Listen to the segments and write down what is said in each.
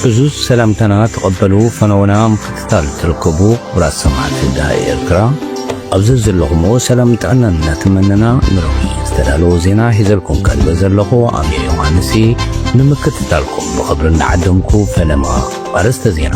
እዙዝ ሰላምታና ተቐበሉ ፈነወና ምክትታል ትርከቡ ኩራት ሰማዕቲ ዳሃይ ኤርትራ ኣብዚ ዘለኹሞ ሰላም ጥዕናን እናተመነና ንረዊ ዝተዳለዎ ዜና ሒዘልኩም ቀልበ ዘለኹ ኣሜ ዮሃንሲ ንምክትታልኩም ብኽብሪ እንዳዓደምኩ ፈለማ ኣርእስተ ዜና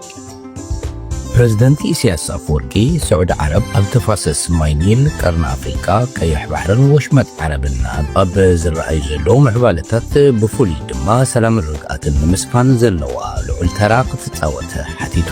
ፕረዚደንት ኢሳያስ ኣፈወርቂ ስዑዲ ዓረብ ኣብ ተፋሰስ ማይ ኒል፣ ቀርኒ ኣፍሪቃ፣ ቀይሕ ባሕርን ወሽመጥ ዓረብን ኣብ ዝረኣዩ ዘለዉ ምዕባለታት ብፍሉይ ድማ ሰላምን ርግኣትን ንምስፋን ዘለዋ ልዑል ተራ ክትጻወት ሓቲቱ።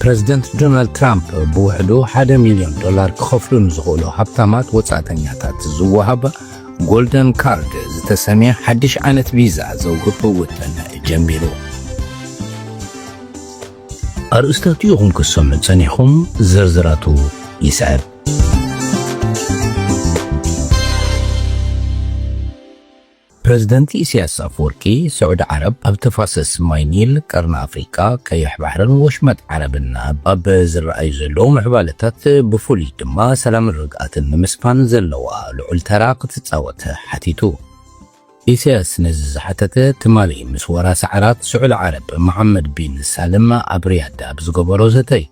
ፕረዚደንት ዶናልድ ትራምፕ ብውሕዱ ሓደ ሚልዮን ዶላር ክኸፍሉ ንዝኽእሉ ሃብታማት ወጻእተኛታት ዝወሃብ ጎልደን ካርድ ዝተሰምየ ሓድሽ ዓይነት ቪዛ ዘውህብ ውጥን ጀሚሩ። ኣርእስታቱ ኢኹም ክትሰምዑ ጸኒኹም፣ ዝርዝራቱ ይስዕብ። ፕረዚደንት ኢሳያስ ኣፈወርቂ፣ ስዑዲ ዓረብ ኣብ ተፋሰስ ማይ ኒል፣ ቀርኒ ኣፍሪቃ፣ ቀይሕ ባሕርን ወሽመጥ ዓረብን ኣብ ዝረኣዩ ዘለዉ ምዕባለታት ብፍሉይ ድማ ሰላምን ርግኣትን ንምስፋን ዘለዋ ልዑል ተራ ክትጻወት ሓቲቱ። ኢሳያስ ነዚ ዝሓተተ ትማሊ ምስ ወራሲ ዓራት ስዑዲ ዓረብ መሓመድ ቢን ሳልም ኣብ ሪያድ ኣብ ዝገበሮ ዘተ'ዩ።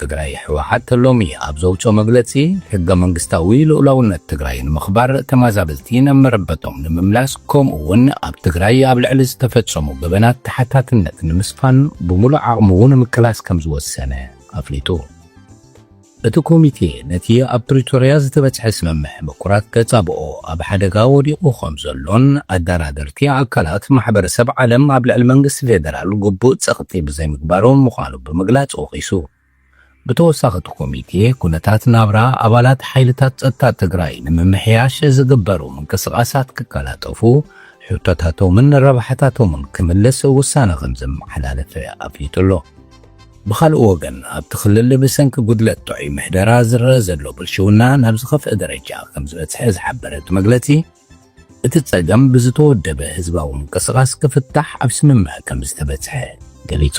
ትግራይ፣ ህወሓት ሎሚ ኣብ ዘውፅኦ መግለፂ ሕገ መንግስታዊ ልኡላውነት ትግራይ ንምኽባር፣ ተማዛበልቲ ናብ መረበቶም ንምምላስ ከምኡ እውን ኣብ ትግራይ ኣብ ልዕሊ ዝተፈፀሙ ገበናት ተሓታትነት ንምስፋን ብሙሉእ ዓቕሙ ንምቅላስ ከምዝወሰነ ኣፍሊጡ። እቲ ኮሚቴ ነቲ ኣብ ፕሪቶርያ ዝተበፅሐ ስምምዕ ምቁራፅ ተፃብኦ ኣብ ሓደጋ ወዲቑ ከምዘሎን ኣደራደርቲ ኣካላት ማሕበረሰብ ዓለም ኣብ ልዕሊ መንግስቲ ፌደራል ግቡእ ፀቕጢ ብዘይምግባሮም ምዃኑ ብምግላጽ ወቒሱ። ብተወሳኺ እቲ ኮሚቴ ኩነታት ናብራ ኣባላት ሓይልታት ጸጥታ ትግራይ ንምምሕያሽ ዝግበሩ ምንቅስቓሳት ክቀላጠፉ፣ ሕቶታቶምን ረብሓታቶምን ክምልስ ውሳነ ከምዘመሓላለፈ ኣፍሊጡ ኣሎ። ብኻልእ ወገን ኣብቲ ክልል ብሰንኪ ጉድለት ጥዑይ ምሕደራ ዝረኣ ዘሎ ብልሽውና ናብ ዝኸፍኣ ደረጃ ከምዝበጽሐ ዝሓበረ እቲ መግለጺ፣ እቲ ጸገም ብዝተወደበ ህዝባዊ ምንቅስቓስ ክፍታሕ ኣብ ስምምዕ ከምዝተበጽሐ ገሊጹ።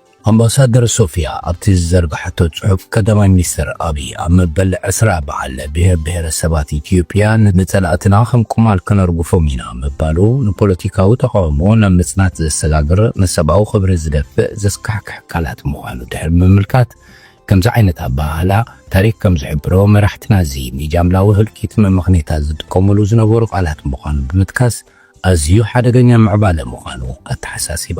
ኣምባሳደር ሶፍያ ኣብቲ ዝዘርግሐቶ ጽሑፍ፣ ቀዳማይ ሚኒስተር ኣብይ ኣብ መበል ዕስራ በዓል ብሄር ብሄረሰባት ኢትዮጵያ ንጸላእትና ከም ቁማል ከነርግፎም ኢና ምባሉ ንፖለቲካዊ ተቓውሞ ናብ ምጽናት ዘሰጋግር ንሰብኣዊ ክብሪ ዝደፍእ ዘስካሕክሕ ቃላት ምዃኑ ድሕሪ ምምልካት ከምዚ ዓይነት ኣበሃህላ ታሪኽ ከም ዝሕብሮ መራሕትና እዚ ንጃምላዊ ህልቂት መመኽኔታ ዝጥቀሙሉ ዝነበሩ ቃላት ምዃኑ ብምጥቃስ ኣዝዩ ሓደገኛ ምዕባለ ምዃኑ ኣተሓሳሲባ።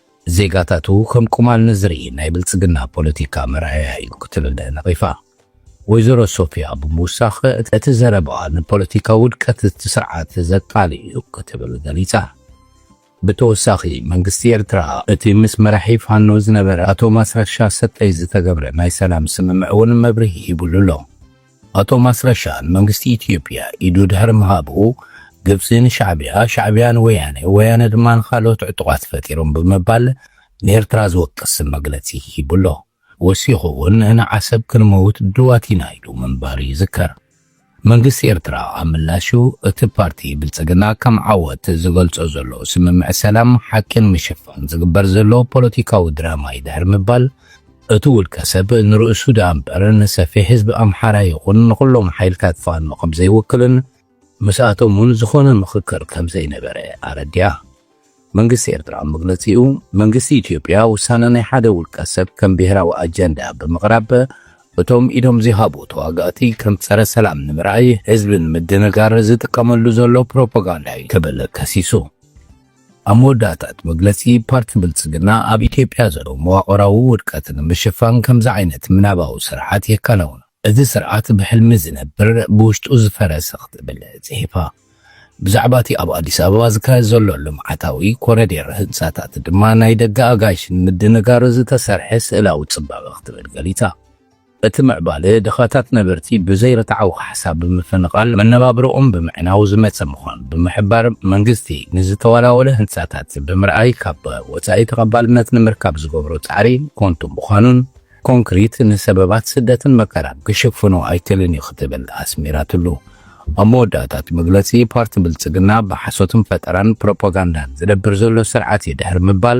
ዜጋታቱ ከም ቁማል ንዝርኢ ናይ ብልፅግና ፖለቲካ መርኣያ እዩ ክትብል ነቒፋ። ወይዘሮ ሶፍያ ብምውሳኽ እቲ ዘረባኣ ንፖለቲካዊ ውድቀት እቲ ስርዓት ዘቃልዕ እዩ ክትብል ገሊፃ። ብተወሳኺ መንግስቲ ኤርትራ እቲ ምስ መራሒ ፋኖ ዝነበረ ኣቶ ማስረሻ ሰጠይ ዝተገብረ ናይ ሰላም ስምምዕ እውን መብርሂ ሂብሉ ኣሎ። ኣቶ ማስረሻ ንመንግስቲ ኢትዮጵያ ኢዱ ድሕሪ ምሃቡ፣ ግብጺ ንሻዕብያ፣ ሻዕብያ ንወያነ፣ ወያነ ድማ ንኻልኦት ዕጡቓት ፈጢሮም ብምባል ንኤርትራ ዝወቅስ መግለጺ ሂቡ ኣሎ። ወሲኹ'ውን ንዓሰብ ክንመውት ድልዋት ኢና ኢሉ ምንባሩ ይዝከር። መንግስቲ ኤርትራ ኣብ ምላሹ፣ እቲ ፓርቲ ብልጽግና ከም ዓወት ዝገልጾ ዘሎ ስምምዕ ሰላም፣ ሓቂ ንምሽፋን ዝግበር ዘሎ ፖለቲካዊ ድራማ'ዩ ድሕሪ ምባል፣ እቱ ውልቀ ሰብ ንርእሱ ድኣ እምበር ንሰፊሕ ህዝቢ ኣምሓራ ይኹን ንኹሎም ሓይልታት ፋኖ ከምዘይውክልን ምስኣቶም እውን ዝኾነ ምኽክር ከምዘይነበረ ኣረዲኣ። መንግስቲ ኤርትራ ኣብ መግለጺኡ፣ መንግስቲ ኢትዮጵያ ውሳነ ናይ ሓደ ውልቀ ሰብ ከም ብሄራዊ ኣጀንዳ ብምቕራብ እቶም ኢዶም ዘይሃቡ ተዋጋእቲ ከም ጸረ ሰላም ንምርኣይ ህዝቢ ንምድንጋር ዝጥቀመሉ ዘሎ ፕሮፖጋንዳ እዩ ክብል ከሲሱ። ኣብ መወዳእታ እቲ መግለጺ፣ ፓርቲ ብልጽግና ኣብ ኢትዮጵያ ዘሎ መዋቕራዊ ውድቀት ንምሽፋን ከምዚ ዓይነት ምናባዊ ስርዓት የከናውኖ። እዚ ስርዓት ብሕልሚ ዝነብር፣ ብውሽጡ ዝፈረሰ ክትብል ጽሒፋ። ብዛዕባ እቲ ኣብ ኣዲስ ኣበባ ዝካየድ ዘሎ ልምዓታዊ ኮረዴር ህንጻታት ድማ ናይ ደገ ኣጋይሽ ንምድንጋር ዝተሰርሐ ስእላዊ ጽባቐ ክትብል ገሊጻ። እቲ ምዕባለ ድኻታት ነበርቲ ብዘይ ርትዓዊ ካሕሳ ብምፍንቓል መነባብሮኦም ብምዕናው ዝመፀ ምዃኑ ብምሕባር፣ መንግስቲ ንዝተዋላወለ ህንፃታት ብምርኣይ ካብ ወፃኢ ተቐባልነት ንምርካብ ዝገብሮ ፃዕሪ ኮንቱ ምዃኑን ኮንክሪት ንሰበባት ስደትን መከራን ክሽፍኖ ኣይክልን እዩ ክትብል ኣስሚራትሉ። ኣብ መወዳእታ እቲ መግለፂ ፓርቲ ብልፅግና ብሓሶትን ፈጠራን ፕሮፓጋንዳን ዝነብር ዘሎ ስርዓት እዩ ድሕሪ ምባል፣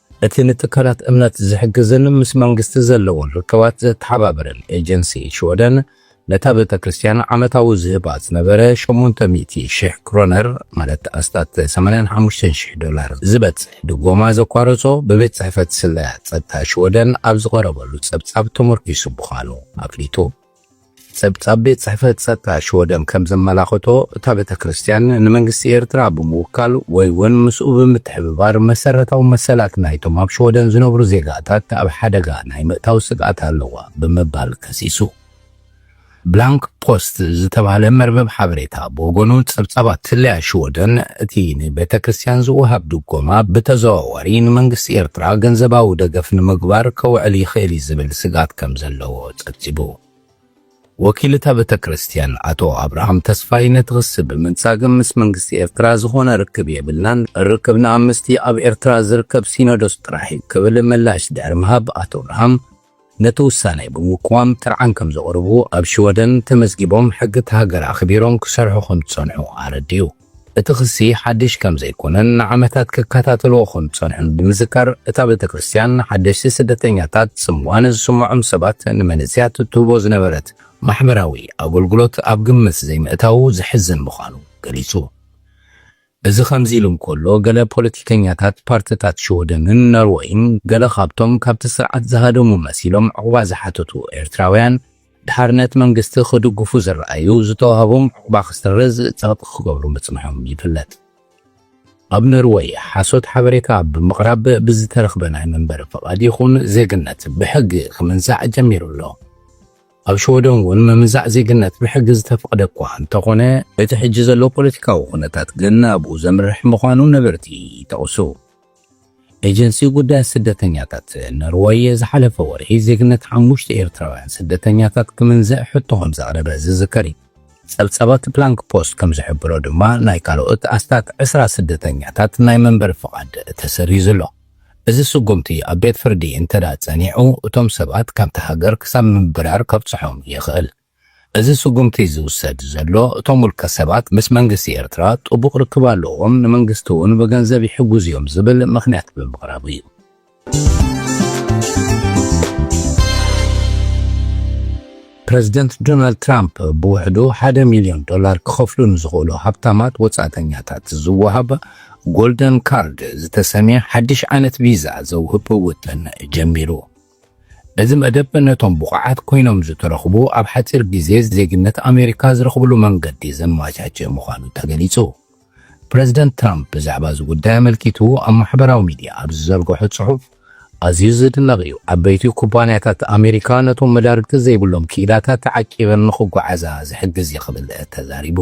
እቲ ንትካላት እምነት ዝሕግዝን ምስ መንግስቲ ዘለዎን ርክባት ዘተሓባብርን ኤጀንሲ ሽወደን፣ ነታ ቤተ ክርስቲያን ዓመታዊ ዝህባ ዝነበረ ሸሞንተ ሚእቲ ሽሕ ክሮነር፣ ማለት ኣስታት ሰማንያን ሓሙሽተን ሽሕ ዶላር፣ ዝበጽሕ ድጎማ ዘቋረጾ፣ ብቤት ጽሕፈት ስለያ ጸጥታ ሽወደን ኣብ ዝቐረበሉ ጸብጻብ ተመርኲሱ ምዃኑ ኣፍሊጡ። ጸብጻብ ቤት ጽሕፈት ጸጥታ ሽወደን ከም ዘመላኸቶ እታ ቤተ ክርስቲያን ንመንግስቲ ኤርትራ ብምውካል ወይ ውን ምስኡ ብምትሕብባር መሰረታዊ መሰላት ናይቶም ኣብ ሽወደን ዝነብሩ ዜጋታት ኣብ ሓደጋ ናይ ምእታው ስግኣት ኣለዋ ብምባል ከሲሱ። ብላንክ ፖስት ዝተባህለ መርበብ ሓበሬታ ብወገኑ ጸብጻባት ስለያ ሽወደን እቲ ንቤተ ክርስቲያን ዝወሃብ ድጎማ ብተዘዋዋሪ ንመንግስቲ ኤርትራ ገንዘባዊ ደገፍ ንምግባር ከውዕል ይኽእል እዩ ዝብል ስግኣት ከም ዘለዎ ጸብጺቡ። ወኪል እታ ቤተክርስትያን ኣቶ ኣብርሃም ተስፋይ ነቲ ክሲ ብምንጻግ ምስ መንግስቲ ኤርትራ ዝኾነ ርክብ የብልናን፣ ርክብና ምስቲ ኣብ ኤርትራ ዝርከብ ሲኖዶስ ጥራሕ እዩ ክብል ምላሽ ድሕሪ ምሃብ ኣቶ ኣብርሃም ነቲ ውሳኔ ብምቅዋም ጥርዓን ከምዘቕርቡ ኣብ ሽወደን ተመዝጊቦም ሕጊ እታ ሃገር ኣኽቢሮም ክሰርሑ ከምዝጸንሑ ኣረዲኡ። እቲ ክሲ ሓድሽ ከም ዘይኰነን ንዓመታት ክከታተልዎ ከም ዝጸንሑን ብምዝካር፣ እታ ቤተ ክርስትያን ንሓደስቲ ስደተኛታት፣ ጽምዋ ንዝስምዖም ሰባት፣ ንመንእሰያት እትህቦ ዝነበረት ማሕበራዊ ኣገልግሎት ኣብ ግምት ዘይምእታዉ ዘሕዝን ምዃኑ ገሊጹ። እዚ ከምዚ ኢሉ እንከሎ፣ ገለ ፖለቲከኛታት ፓርትታት ሽወደንን ኖርወይን ገለ ካብቶም ካብቲ ስርዓት ዝሃደሙ መሲሎም ዑቕባ ዝሓተቱ ኤርትራውያን፣ ድሓርነት መንግስቲ ክድግፉ ዝረኣዩ ዝተዋህቦም ዑቕባ ክስረዝ ጸቕጢ ክገብሩ ምጽንሖም ይፍለጥ። ኣብ ኖርወይ ሓሶት ሓበሬታ ብምቕራብ ብዝተረኽበ ናይ መንበሪ ፍቓድ ይኹን ዜግነት ብሕጊ ክምንዛዕ ጀሚሩ ኣሎ። ኣብ ሽወደን እውን ምምንዛዕ ዜግነት ብሕጊ ዝተፈቕደ እኳ እንተኾነ እቲ ሕጂ ዘሎ ፖለቲካዊ ኩነታት ግን ናብኡ ዘምርሕ ምዃኑ ነበርቲ ይጠቕሱ። ኤጀንሲ ጉዳያት ስደተኛታት ኖርወይ ዝሓለፈ ወርሒ ዜግነት ሓሙሽተ ኤርትራውያን ስደተኛታት ክምንዝዕ ሕቶ ከምዘቕረበ ዝዝከር እዩ። ጸብጻባት ፕላንክ ፖስት ከምዝሕብሮ ድማ ናይ ካልኦት ኣስታት ዕስራ ስደተኛታት ናይ መንበሪ ፍቓድ ተሰሪዙ ኣሎ። እዚ ስጉምቲ ኣብ ቤት ፍርዲ እንተድኣ ጸኒዑ እቶም ሰባት ካብታ ሃገር ክሳብ ምብራር ከብጽሖም ይኽእል። እዚ ስጉምቲ ዝውሰድ ዘሎ እቶም ውልቀ ሰባት ምስ መንግስቲ ኤርትራ ጥቡቕ ርክብ ኣለዎም፣ ንመንግስቲ'ውን ብገንዘብ ይሕግዙ'ዮም ዝብል ምኽንያት ብምቕራብ'ዩ። ፕረዚደንት ዶናልድ ትራምፕ ብውሕዱ ሓደ ሚልዮን ዶላር ክኸፍሉ ንዝኽእሉ ሃብታማት ወጻእተኛታት ዝወሃብ ጎልደን ካርድ ዝተሰምየ ሓድሽ ዓይነት ቪዛ ዘውህብ ውጥን ጀሚሩ። እዚ መደብ ነቶም ብቑዓት ኮይኖም ዝተረኽቡ ኣብ ሓጺር ግዜ ዜግነት ኣሜሪካ ዝረኽብሉ መንገዲ ዘመቻችእ ምዃኑ ተገሊጹ። ፕረዚደንት ትራምፕ ብዛዕባ እዚ ጉዳይ ኣመልኪቱ ኣብ ማሕበራዊ ሚድያ ኣብ ዝዘርግሖ ጽሑፍ፣ ኣዝዩ ዝድነቕ እዩ፣ ዓበይቲ ኩባንያታት ኣሜሪካ ነቶም መዳርግቲ ዘይብሎም ክኢላታት ተዓቂበን ንኽጓዓዛ ዝሕግዝ እዩ ክብል ተዛሪቡ።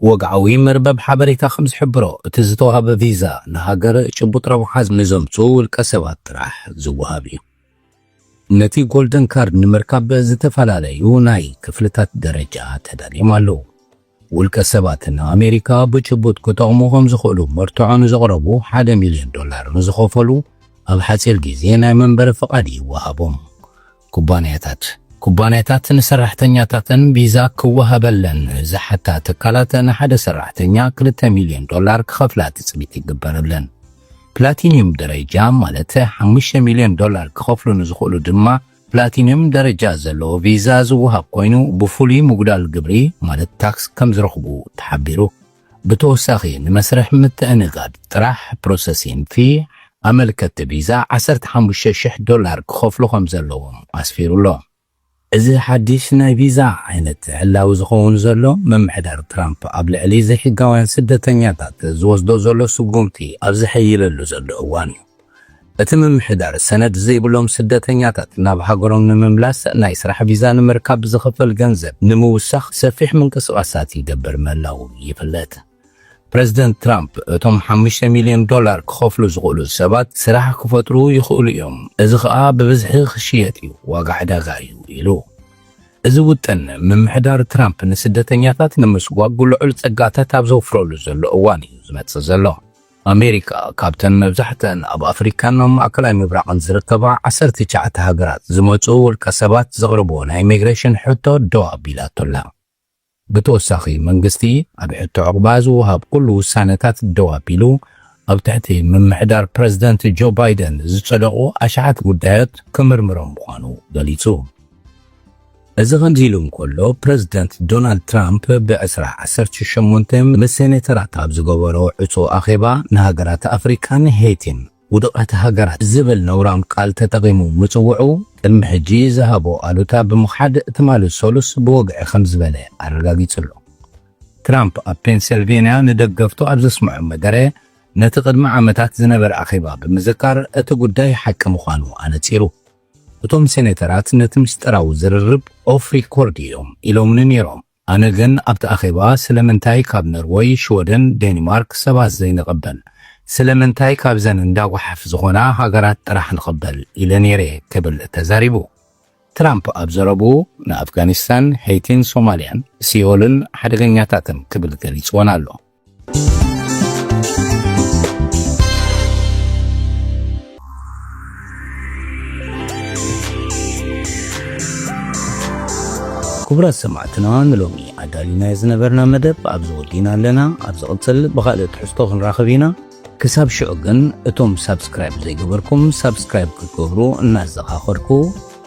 ወግዓዊ መርበብ ሓበሬታ ከም ዝሕብሮ፣ እቲ ዝተዋህበ ቪዛ ንሃገር ጭቡጥ ረብሓ ንዘምጽኡ ውልቀሰባት ጥራሕ ዝወሃብ እዩ። ነቲ ጎልደን ካርድ ንምርካብ ዝተፈላለዩ ናይ ክፍልታት ደረጃ ተዳልዮም ኣለዉ። ውልቀሰባት ንኣሜሪካ ብጭቡጥ ክጠቕሙ ከም ዝኽእሉ መርትዖ ንዘቕረቡ ሓደ ሚልዮን ዶላር ንዝኸፈሉ ኣብ ሓጺር ግዜ ናይ መንበሪ ፍቓድ ይወሃቦም። ኩባንያታት፣ ኩባንያታት ንሰራሕተኛታተን ቪዛ ክወሃበለን ዝሓታ ትካላት ንሓደ ሰራሕተኛ ክልተ ሚልዮን ዶላር ክኸፍላ ትፅቢት ይግበረለን። ፕላቲንዩም ደረጃ ማለት ሓሙሽተ ሚልዮን ዶላር ክኸፍሉ ንዝኽእሉ ድማ ፕላቲንዩም ደረጃ ዘለዎ ቪዛ ዝወሃብ ኮይኑ ብፍሉይ ምጉዳል ግብሪ ማለት ታክስ ከምዝረኽቡ ተሓቢሩ። ብተወሳኺ ንመስርሕ ምትእንጋድ ጥራሕ ፕሮሰሲን ፊ ኣመልከትቲ ቪዛ ዓሰርተ ሓሙሽተ ሽሕ ዶላር ክኸፍሉ ከምዘለዎም ኣስፊሩ ኣሎ። እዚ ሓድሽ ናይ ቪዛ ዓይነት ዕላዊ ዝኸውን ዘሎ ምምሕዳር ትራምፕ ኣብ ልዕሊ ዘይሕጋውያን ስደተኛታት ዝወስዶ ዘሎ ስጉምቲ ኣብ ዝሕይለሉ ዘሎ እዋን እዩ። እቲ ምምሕዳር ሰነድ ዘይብሎም ስደተኛታት ናብ ሃገሮም ንምምላስ ናይ ስራሕ ቪዛ ንምርካብ ብዝኽፈል ገንዘብ ንምውሳኽ ሰፊሕ ምንቅስቓሳት ይገብር ምህላዉ ይፍለጥ። ፕረዚደንት ትራምፕ እቶም ሓሙሽተ ሚልዮን ዶላር ክኸፍሉ ዝኽእሉ ሰባት ስራሕ ክፈጥሩ ይኽእሉ እዮም፣ እዚ ኸኣ ብብዝሒ ክሽየጥ እዩ፣ ዋጋ ዕዳጋ እዩ ኢሉ። እዚ ውጥን ምምሕዳር ትራምፕ ንስደተኛታት ንምስጓጕ ልዑል ጸጋታት ኣብ ዘውፍረሉ ዘሎ እዋን እዩ ዝመጽእ ዘሎ። ኣሜሪካ ካብተን መብዛሕትኣን ኣብ ኣፍሪካን ኣብ ማእከላይ ምብራቕን ዝርከባ ዓሰርተ ትሽዓተ ሃገራት ዝመጽኡ ውልቀ ሰባት ዘቕርብዎ ናይ ኢሚግሬሽን ሕቶ ደው ኣቢላቶ ኣላ። ብተወሳኺ መንግስቲ ኣብ ሕቶ ዑቕባ ዝወሃብ ኩሉ ውሳነታት ደው ኣቢሉ ኣብ ትሕቲ ምምሕዳር ፕረዚደንት ጆ ባይደን ዝጸደቑ ኣሽሓት ጉዳዮት ክምርምሮም ምዃኑ ገሊጹ። እዚ ከምዚ ኢሉ እንከሎ፣ ፕረዚደንት ዶናልድ ትራምፕ ብዕስራ ዓሰርተ ሸሞንተ ምስ ሴኔተራት ኣብ ዝገበሮ ዕጹው ኣኼባ፣ ንሃገራት ኣፍሪቃን ሄይቲን ውዱቓት ሃገራት ዝብል ነውራም ቃል ተጠቒሙ ምጽውዑ፣ ቅድሚ ሕጂ ዝሃቦ ኣሉታ ብምኽሓድ ትማሊ ሰሉስ ብወግዒ ከም ዝበለ ኣረጋጊጹ ኣሎ። ትራምፕ ኣብ ፔንሰልቨንያ ንደገፍቱ ኣብ ዘስምዖ መደረ፣ ነቲ ቅድሚ ዓመታት ዝነበረ ኣኼባ ብምዝካር፣ እቲ ጉዳይ ሓቂ ምዃኑ ኣነጺሩ። እቶም ሴኔተራት ነቲ ምስጢራዊ ዝርርብ ኦፍ ሪኮርድ እዮም ኢሎምኒ ነይሮም። ኣነ ግን ኣብቲ ኣኼባ ስለምንታይ ካብ ኖርወይ፣ ሽወደን፣ ዴኒማርክ ሰባት ዘይንቕበል? ስለምንታይ ካብዘን እንዳ ጓሓፍ ዝኾና ሃገራት ጥራሕ ንቕበል? ኢለ ነይረ'የ ክብል ተዛሪቡ። ትራምፕ ኣብ ዘረብኡ ንኣፍጋኒስታን፣ ሄይቲን ሶማልያን ሲኦልን ሓደገኛታትን ክብል ገሊጽወን ኣሎ። ክቡራት ሰማዕትና ንሎሚ ኣዳሊናዮ ዝነበርና መደብ ኣብዚ ወዲና ኣለና ኣብ ዝቕፅል ብኻልእ ትሕዝቶ ክንራኸብ ኢና ክሳብ ሽዑ ግን እቶም ሳብስክራይብ ዘይገበርኩም ሳብስክራይብ ክትገብሩ እናዘኻኸርኩ